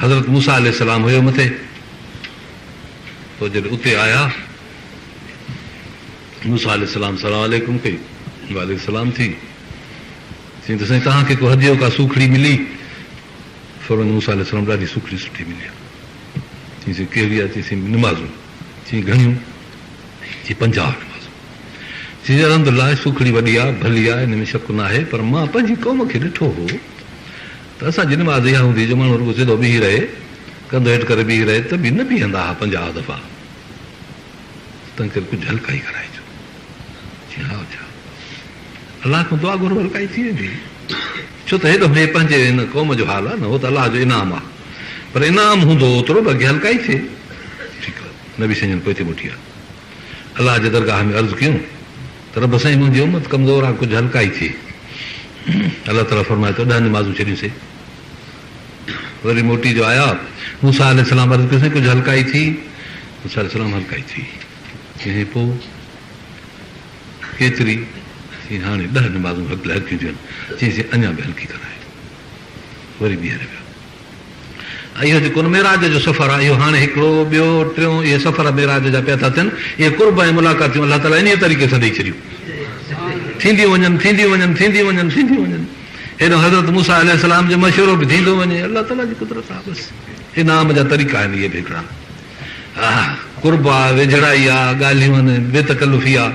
حضرت موسيٰ عليه السلام هيو مٿي، پوء جڏهن اتي آيا، موسيٰ عليه السلام سلام عليڪم ڪئي، وعليه السلام ٿي، چيائين ته سائين توهان کي ڪو هديو، ڪا سوکڙي ملي؟ فرمايائين موسيٰ عليه السلام ڏاڍي سوکڙي سٺي ملي آهي. چيسين ڪهڙي آهي؟ چيسين نمازون. چيائين گهڻيون؟ چيائين پنجاهه نمازون. چيسين الحمدلله سوکڙي وڏي آهي، ڀلي آهي، ان ۾ شڪ ناهي، پر مان پنهنجي قوم کي ڏٺو هو، ته اسان جي نماز اها هوندي جو ماڻهو رڳو سڌو بيهي رهي، ڪنڌ هيٺ ڪري بيهي رهي ته به نه بيهندا ها پنجاهه دفعا ته تنهن ڪري ڪجهه هلڪائي ڪرائجو. چيائين ها اڇا الله کان دعا گهرو هلڪائي ٿي ويندي ڇو ته هيڏو هي پنهنجي هن قوم جو حال آهي نه هو ته الله جو انعام آهي پر انعام هوندو اوترو به اڳي هلڪائي ٿئي ٺيڪ آهي نبي سائين جن پوئتي موٽي آهي. الله جي درگاهه ۾ عرض ڪيون ته رب سائين منهنجي امت ڪمزور آ ڪجهه هلڪائي ٿئي الله تعالي فرمايو ته ڏهه نمازون ڇڏيون سي وري موٽي جو آيا موسا عليه السلام عرض ڪيو سائين ڪجهه هلڪائي ٿي موسا عليه السلام هلڪائي ٿي ڪنهن پو ڪيتري چي هاڻي ڏهه نمازون هلڪيون ٿيون چي سي اڃا به هلڪي ڪرائي وري ٻيهر ويا اهو جيڪو ان معراج جو سفر آهي، اهو هاڻي هڪڙو، ٻيو، ٽيون، اهي سفر معراج جا پيا ٿا ٿين. اهي قرب ۽ ملاقاتيون الله تعاليٰ انهيء طريقي سان ڏئي ڇڏيون. ٿينديون وڃن، ٿينديون وڃن، ٿينديون وڃن، ٿينديون وڃن. هيڏانهن حضرت موسيٰ عليه السلام جو مشورو به ٿيندو وڃي. الله تعاليٰ جي قدرت آهي بس. انعام جا طريقا آهن اهي به هڪڙا. آه! قرب آ، ويجهڙائي آ، ڳالهيون آهن بي تڪلفي آ.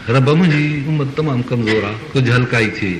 ربه! منهنجي امت تمام ڪمزور آ، ڪجهه هلڪائي ٿئي.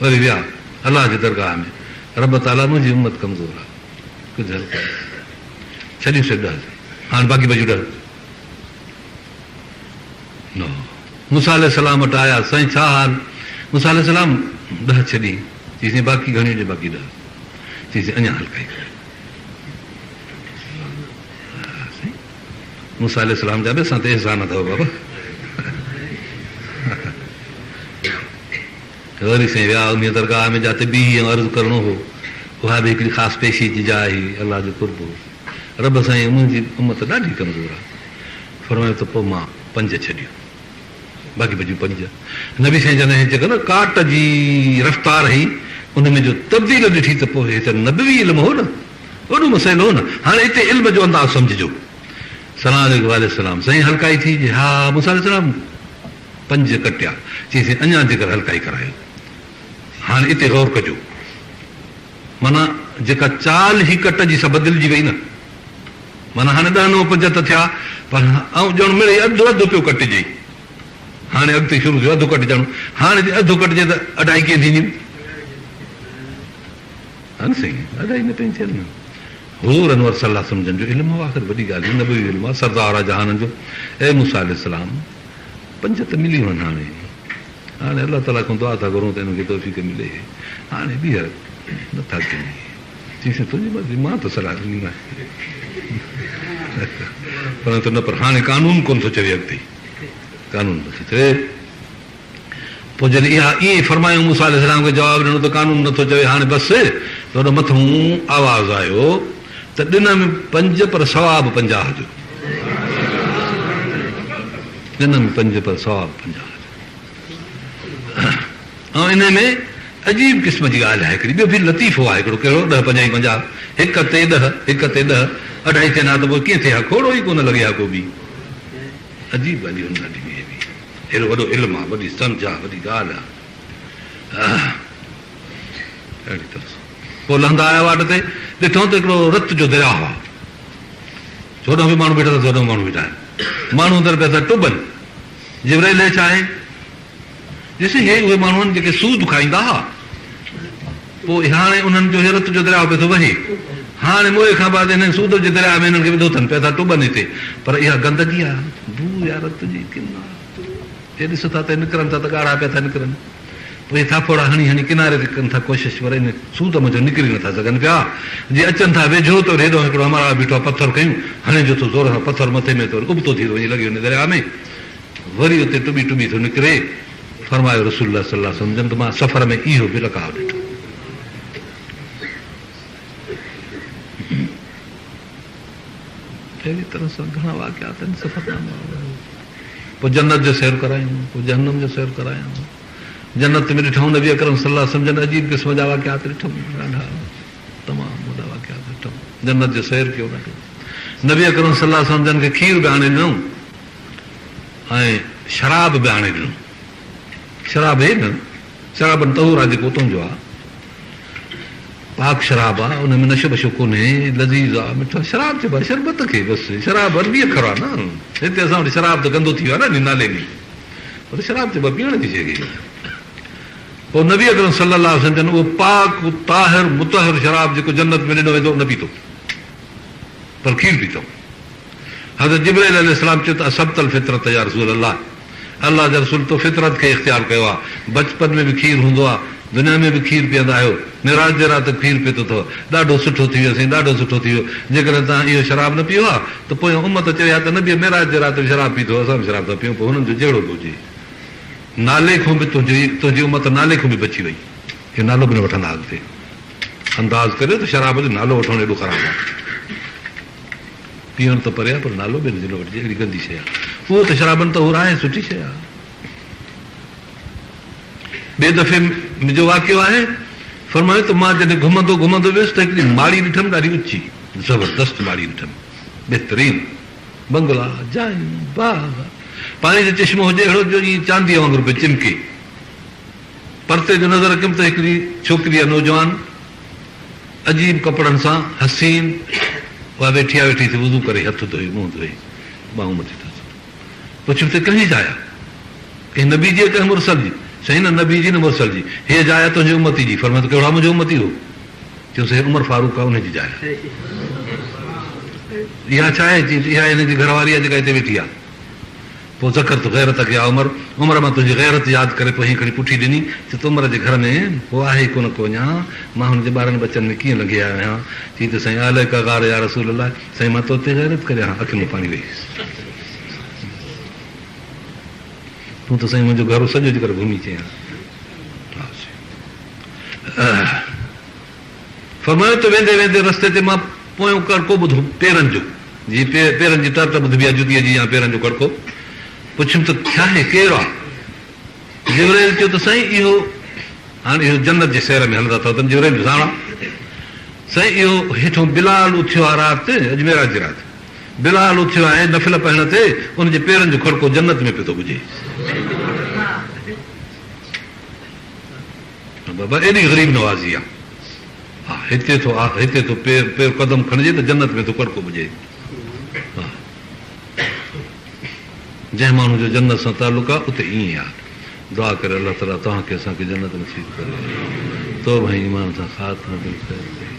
وري ويا الله جي درگاهه ۾، رب تعاليٰ منهنجي امت ڪمزور آ، ڪجهه هلڪو ڏي، ڇڏيون سي ڏهه ٿي، هاڻ باقي بچيون ڏهه، نو، موسيٰ عليه السلام وٽ آيا، سائين ڇا حال، موسيٰ عليه السلام ڏهه ڇڏين، چيسين باقي گهڻيون ڏي، باقي ڏهه، چيسين اڃا هلڪا ئي ڪر. موسيٰ عليه السلام جا به اسان تي احسان اٿو بابا. غوري سائين ويا انهيء درگاهه ۾ جاتي بيهي ۽ عرض ڪرڻو هو، اها به هڪڙي خاص پيشي جي جاء هئي، الله جو قرب هو. رب سائين منهنجي امت ڏاڍي ڪمزور آهي. فرمايو ته پوء مان پنج ڇڏيو. باقي بچيون پنج. نبي سائين جڏهن هيچ ڪن ڪاٽ جي رفتار هئي، ان ۾ جو تبديل ڏٺي ته پوء هي ته نبوي علم هو نه. وڏو مسئلو هو نه. هاڻي اتي علم جو انداز سمجهجو. سلام عليڪم وعليڪم السلام سائين هلڪائي ٿي جي ها موسيٰ عليه السلام پنج ڪٽيا چيس اڃا جيڪر هلڪائي ڪرايو هاڻي اتي غور ڪجو معنيٰ جيڪا چال هي ڪٽ جي سا بدلجي وئي نه معنيٰ هاڻي ڏهه نو پنج ته ٿيا پر آئون ڄڻ مڙئي اڌ اڌ پيو ڪٽجي هاڻي اڳتي شروع ٿيو اڌ ڪٽجڻ هاڻي جي اڌ ڪٽجي ته اڍائي ڪيئن ٿينديون. هن سائين ادائي نه پئي ٿيل نه حور انور صلي الله سمجهن جو علم هو آخر وڏي ڳالهه نبوي علم آ سردار آ جهانن جو اي موسي عليه السلام پنج ته ملي وين هاڻي هاڻي الله تعالي کان دعا ٿا گهرون ته انهن کي توفيق ملي هاڻي ٻيهر نه ٿا ڪن چيسين تنهنجي مرضي مان ته صلاح ڏني مانس پر نه پر هاڻي قانون ڪون ٿو چوي اڳتي قانون نه ٿو چوي پوء جڏهن اها ائين فرمايائون، موسيٰ عليه السلام کي جواب ڏنو ته قانون نٿو چوي هاڻي بس ته هوڏو مٿئون آواز آيو ته ڏنم پنج پر ثواب پنجاهه جو ڏنم پنج پر ثواب پنجاهه جو ۽ انهي ۾ عجيب قسم جي ڳالهه آهي هڪڙي ٻيو پھر لطيفو آهي هڪڙو ڪهڙو ڏهه پنجاهه پنجاهه هڪ تي ڏهه هڪ تي ڏهه اڍائي چئن ها ته پوء ڪيئن ٿئي ها کوڙو ئي ڪونه لڳي ها ڪو به عجيب ڳالهه هن ڏٺي هئي به اهڙو وڏو علم آ وڏي سمجهه آ وڏي ڳالهه آ اهڙي طرح سان پوء لهندا آيا واٽ تي ڏٺائون ته هڪڙو رت جو درياهه آ هوڏانهن به ماڻهو بيٺا تس هوڏانهن به ماڻهو بيٺا آهن ماڻهو اندر پيا تن ٽٻن جبرائيل هيٺ آهي ڏسي هي اهي ماڻهون جيڪي سود کائيندا ها، پوء هاڻي انهن جو هي رت جو درياء پئي ٿو وهي. هاڻي موئي کان بعد انهن سود جي درياء ۾ انهن کي وڌو ٿن پيا ٿا ٽٻن هتي، پر اها گندگي آ، بوء آ رت جي ڪنا جي ڏس ٿا ته نڪرن ٿا ته ڳاڙها پيا ٿا نڪرن، پوء اهي ٿاڦوڙا هڻي هڻي ڪناري تي ڪن ٿا ڪوشش پر ان سود منجهان نڪري نه ٿا سگهن پيا، جي اچن ٿا ويجهو ته وري هيڏانهن هڪڙو همراهه بيٺو آ پٿر کنيون هڻي جو ٿو زور سان پٿر مٿي ۾ ته وري ابتو ٿي ٿو وڃي لڳي وڃي درياء ۾. وري اتي ٽٻي ٽٻي ٿو نڪري، فرمايو رسول الله صلي الله عليه وسلم جن ته مان سفر ۾ اهو به لقاء ڏٺو. اهڙي طرح سان گهڻا واقعات آهن سفرنامه پوء جنت جو سير ڪرايائون پوء جهنم جو سير ڪرايائون جنت ۾ ڏٺائون نبي اڪرم صلي الله عليه وسلم جن عجيب قسم جا واقعات ڏٺائون ڏاڍا تمام وڏا واقعات ڏٺائون جنت جو سير ڪيو ڏاڍو نبي اڪرم صلي الله عليه وسلم جن کي کير به آڻي ڏنو ۽ شراب به آڻي ڏنو. شراب هي نه شرابن طهور آ جيڪو تنهنجو آ. پاڪ شراب آ، ان ۾ نشو بشو ڪونهي، لذيذ آ، مٺا شراب چئبو آ شربت کي بس. شراب عربي اکر آ نه، هتي اسان وٽ شراب ته گندو ٿي ويو آ نه انهي نالي ۾، پر شراب چئبو آ پيئڻ جي شيء کي. پوء نبي اڪرم صلّي اللّٰه عليه وسلّم جن اهو پاڪ، طاهر، مطهّر شراب جيڪو جنّت ۾ ڏنو ويندو نه پيتو، پر کير پيتو. حضرت جبرائيل عليه السلام چيو ته اصبت الفطرة يا رسول الله، الله جا رسول تو فطرت کي اختيار ڪيو آهي، بچپن ۾ به کير هوندو آهي، دنيا ۾ به کير پيئندا آهيو، معراج جي رات کير پيتو اٿو، ڏاڍو سٺو ٿي ويو سائين ڏاڍو سٺو ٿي ويو، جيڪڏهن توهان اهو شراب نه پيئو ها ته پويان امت چوي ها ته نبيء معراج جي رات به شراب پيتو اسان به شراب ٿا پيئون پوء هنن جو جهڙو به هجي نالي کان به تنهنجي تنهنجي امت نالي کان به بچي وئي اهو نالو به نه وٺندا اڳتي انداز ڪريو ته شراب جو نالو وٺڻ ايڏو خراب آهي. پيئڻ ته پري آ پر نالو ٻين جي نه وٺجي اهڙي گندي شيء آ اهو ته شرابن طهور آهي سٺي شيء آ. ٻئي دفعي م جو واقعو آهي فرمايو ته مان جڏهن گهمندو گهمندو ويس ته هڪڙي ماڙي ڏٺم ڏاڍي اچي زبردست ماڙي ڏٺم بهترين بنگلا جايون باغ پاڻي جو چشمو هجي اهڙو جو ائين چانديء وانگر پئي چمڪي. پرتي جو نظر رکيم ته هڪڙي ڇوڪري يا نوجوان عجيب ڪپڙن سان حسين اها ويٺي آ ويٺي ٿي وضو ڪري هٿ ڌوئي منهن ڌوئي ٻانهون مٿي ٿو ٿو پڇيم ته ڪنهنجي جاء آ ڪنهن نبي جي ڪنهن مرسل جي سائين نه نبي جي نه مرسل جي هيء جاء آ تنهنجي امتي جي فرمايو ته ڪهڙا منهنجو امتي هو چيوس هيء عمر فاروق آ انهي جي جاء آ اها ڇا آهي چيم ته اها هي هن جي گهر واري آ جيڪا هتي ويٺي آ پوء ذڪرت غيرتک يا عمر، عمر مان تنهنجي غيرت ياد ڪري پوء هيئن کڻي پٺي ڏني چي ته عمر جي گهر ۾ ڪو آهي ئي ڪونه ڪو اڃا مان هن جي ٻارن ٻچن ۾ ڪيئن لنگهي آيو آهيان چي ته سائين عليڪ غار يا رسول الله سائين مان تو تي غيرت ڪري آهان اکين ۾ پاڻي ويهي تون ته سائين منهنجو گهرو سڄو جيڪر گهمي چيان. فرمايو ته ويندي ويندي رستي تي مان پويون ڪڙڪو ٻڌو، پيرن جو، جي پيرن جي تر تر ٻڌبي آهي، جتيء جي يا پيرن جو ڪڙڪو. پڇيم ته ڇاهي، ڪير آ؟ جبرائيل چيو ته سائين اهو، هاڻ اهو جنت جي سير ۾ هلندا اٿئو تن جبرائيل به ساڻ آ، سائين اهو هيٺون بلال اٿيو آ رات، اڄ معراج جي رات، بلال اٿيو آهي نفل پڙهڻ تي، ان جي پيرن جو ڪڙڪو جنت ۾ پيو ٿو ٻجي. بابا ايڏي غريب نوازي آ ها هتي ٿو آ هتي ٿو پير قدم کڻجي ته جنت ۾ ٿو ڪڙڪو ٻجي ها جنهن ماڻهو جو جنت سان تعلق آ اتي ائين آ دعا ڪري الله تعالي توهان کي اسان کي جنت نصيب ڪري توبه ۽ ايمان سان خاتمو ڏئي خير ڪري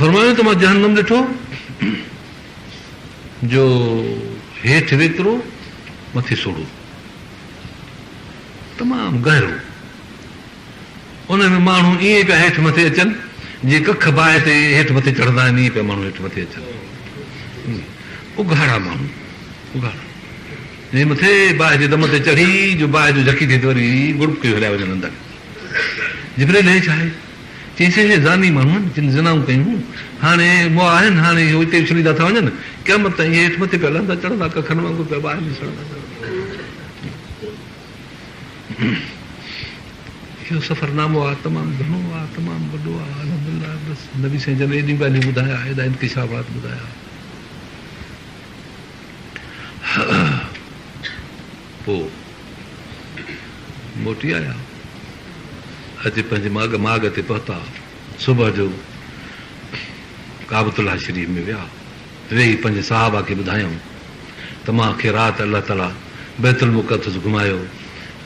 فرمايو ته مان جهنم ڏٺو جو هيٺ ويترو مٿي سوڙهو تمام گهرو. ان ۾ ماڻهو ائين پيا هيٺ مٿي اچن، جيئن ڪک باهه تي هيٺ مٿي چڙهندا آهن، ائين پيا ماڻهو هيٺ مٿي اچن. اگهاڙا ماڻهو، اگهاڙا. جيئن مٿي باهه جي دم تي چڙهي جو باهه جو جهڪي ٿي ته وري گڙپڪيون هليا وڃن اندر. جبريل هي ڇا آهي؟ چيائين سي اهي زاني ماڻهو آهن جن زنائون ڪيون هيون هاڻي مئا آهن هاڻي اهو اتي اڇلي ٿا ٿا وڃن قيامت تائين اهي هيٺ مٿي پيا لهندا چڙهندا ڪکن وانگر پيا باهه ۾ سڙندا چڙهندا اهو سفر نامو آ تمام گهڻو آ تمام وڏو آ الحمدلله بس نبي سائين جن ايڏيون ڳالهيون ٻڌايا ايڏا انڪشافات ٻڌايا پوء موٽي آيا. اچي پنهنجي ماڳ ماڳ تي پهتا. صبح جو ڪعبت الله شريف ۾ ويا. ويهي پنهنجي صحابه کي ٻڌايائون ته مان کي رات الله تعاليٰ بيت المقدس گهمايو،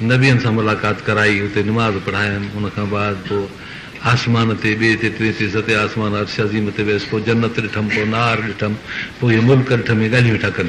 نبين سان ملاقات ڪرائي، اتي نماز پڙهايم، ان کان بعد پوء آسمان تي ٻئي تي ٽئين تي ستين آسمان عرش عظيم تي ويس، پوء جنت ڏٺم، پوء نار ڏٺم، پوء هي ملڪ ڏٺم، هي ڳالهيون ويٺا ڪن.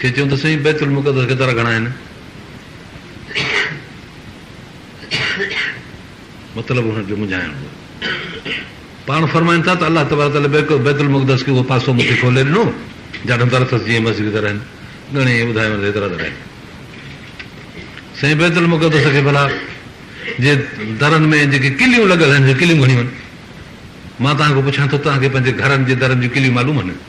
کي چيون ته سائين بيت المقدس ڪيترا گهڻا آهن؟ مطلب هن کي منجهائڻ هو. پاڻ فرمائن ٿا ته الله تبارڪ تعالي بيت المقدس کي اهو پاسو مون کي کولي ڏنو جڏهن در اٿس جيئن مسجد جي در آهن. ڳڻي ائين ٻڌايو وڃي ته ايترا در آهن. سائين بيت المقدس کي ڀلا جي درن ۾ جيڪي ڪليون لڳل آهن اهي ڪليون گهڻيون آهن. مان توهان کان پڇان ٿو توهان کي پنهنجي گهرن جي درن جون ڪليون معلوم آهن؟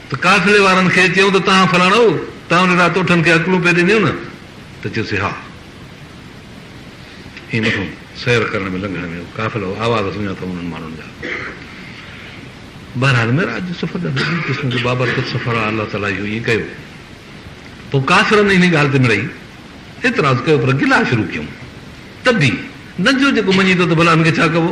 ته قافلي وارن کي چيائون ته تهان فلاڻو تهان وٽ اهڙا توٺن کي اڪلون پئي ڏنيون نه؟ ته چيو سي ها. ائين مٿو سير ڪرڻ ۾ لنگهڻ ۾ قافلو آواز سڃاتا انهن ماڻهن جا. بهرحال معراج جو سفر ڏاڍو عجيب قسم جو بابرڪت سفر آهي الله تعاليٰ اهو ائين ڪيو. پوء ڪافرن انهي ڳالهه تي مڙئي اعتراض ڪيو پر گلا شروع ڪيائون ته به نه جو جيڪو مڃي ٿو ته ڀلا هن کي ڇا ڪبو.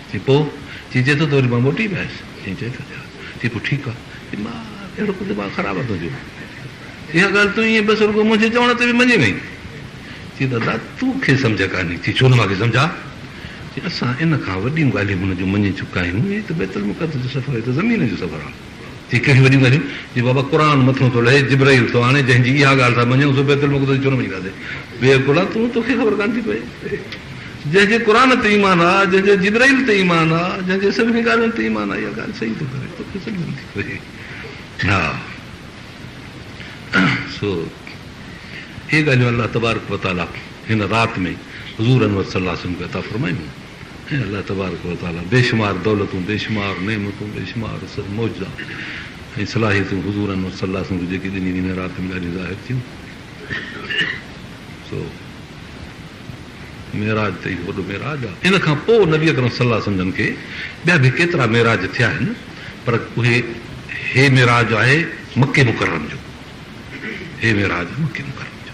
چي پوء؟ چي جي ٿو ته وري مان موٽي به آيس. چي جي ٿو ڏيان. چي پوء ٺيڪ آ. چي مان اهڙو ڪو دماغ خراب آ تنهنجو. اها ڳالهه تون ائين بس رڳو منهنجي چوڻ تي به مڃي وئين. چي دادا تون کي سمجهه ڪانهي. چي ڇو نه مان کي سمجهه آ. چي اسان ان کان وڏيون ڳالهيون هن جون مڃي چڪا آهيون. هي ته بيت المقدس جو سفر هي ته زمين جو سفر آ. هي ڪهڙيون وڏيون ڳالهيون جو بابا قرآن مٿو ٿو لهي جبرئيل ٿو آڻي جنهن جي اها ڳالهه ٿا مڃون سو بيت المقدس جي ڇو نه مڃي ٿا سين بي عقل آ تون توکي خبر ڪانه ٿي پئي جنهن جي قرآن تي ايمان آ جنهن جي جبرئيل تي ايمان آ جنهن جي سڀني ڳالهين تي ايمان آ اها ڳالهه صحيح ٿو ڪري توکي سمجهه نه ٿي پئي ها سو هي ڳالهيون الله تبارڪ وتعالي هن رات ۾ حضور انور صلي الله عليه وسلم کي عطا فرمايون اي الله تبارڪ و تعاليٰ! بيشمار دولتون، بيشمار نعمتون، بيشمار معجزا ۽ صلاحيتون حضور انور صلّي الله عليه وسلّم کي جيڪي ڏنيون ويون، رات ۾ ڏاڍيون ظاهر ٿيون، سو معراج ته اهو وڏو معراج آ. ان کان پوء نبي اڪرم صلّي الله عليه وسلّم جن کي ٻيا به ڪيترا معراج ٿيا آهن، پر اهي هي معراج آهي مڪي مڪرم جو، هي معراج آهي مڪي مڪرم جو.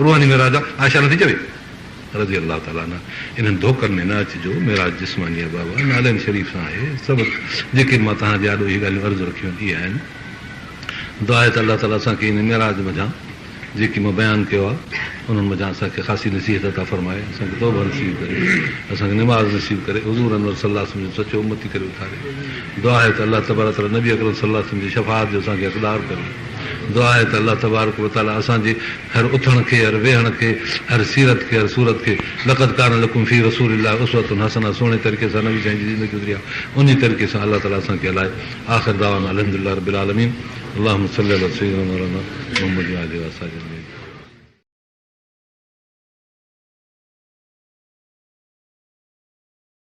روحاني معراج آ عائشه نٿي چوي رضي الله تعالٰي عنها انهن ڌوڪن ۾ نه اچجو معراج جسماني آ بابا نالين شريف سان آهي سڀ جيڪي مان توهان جي آڏو اهي ڳالهيون عرض رکيون اهي آهن دعا آهي ته الله تعالٰي اسان کي ان معراج منجهان جيڪي مان بيان ڪيو آ انهن منجهان اسان کي خاصي نصيحت عطا فرمائي اسان کي توبه نصيب ڪري اسان کي نماز نصيب ڪري حضور انور صلي الله وسلم جو سچو امتي ڪري اٿاري دعا آهي ته الله تبارڪ تعالٰي نبي اڪرم صلي الله وسلم جي شفاعت جو اسان کي حقدار ڪري دعا آهي ته الله تبارڪ و تعالي اسان جي هر اٿڻ کي، هر ويهڻ کي، هر سيرت کي، هر صورت کي لقد ڪان لڪم في رسول الله اسوة حسنة سهڻي طريقي سان نبي سائين جي زندگي گذري آهي انهي طريقي سان الله تعالي اسان کي هلائي آخر دعوانا الحمدلله رب العالمين اللهم صل علي سيدنا مولانا محمد وآله وآصحابه اجمعين.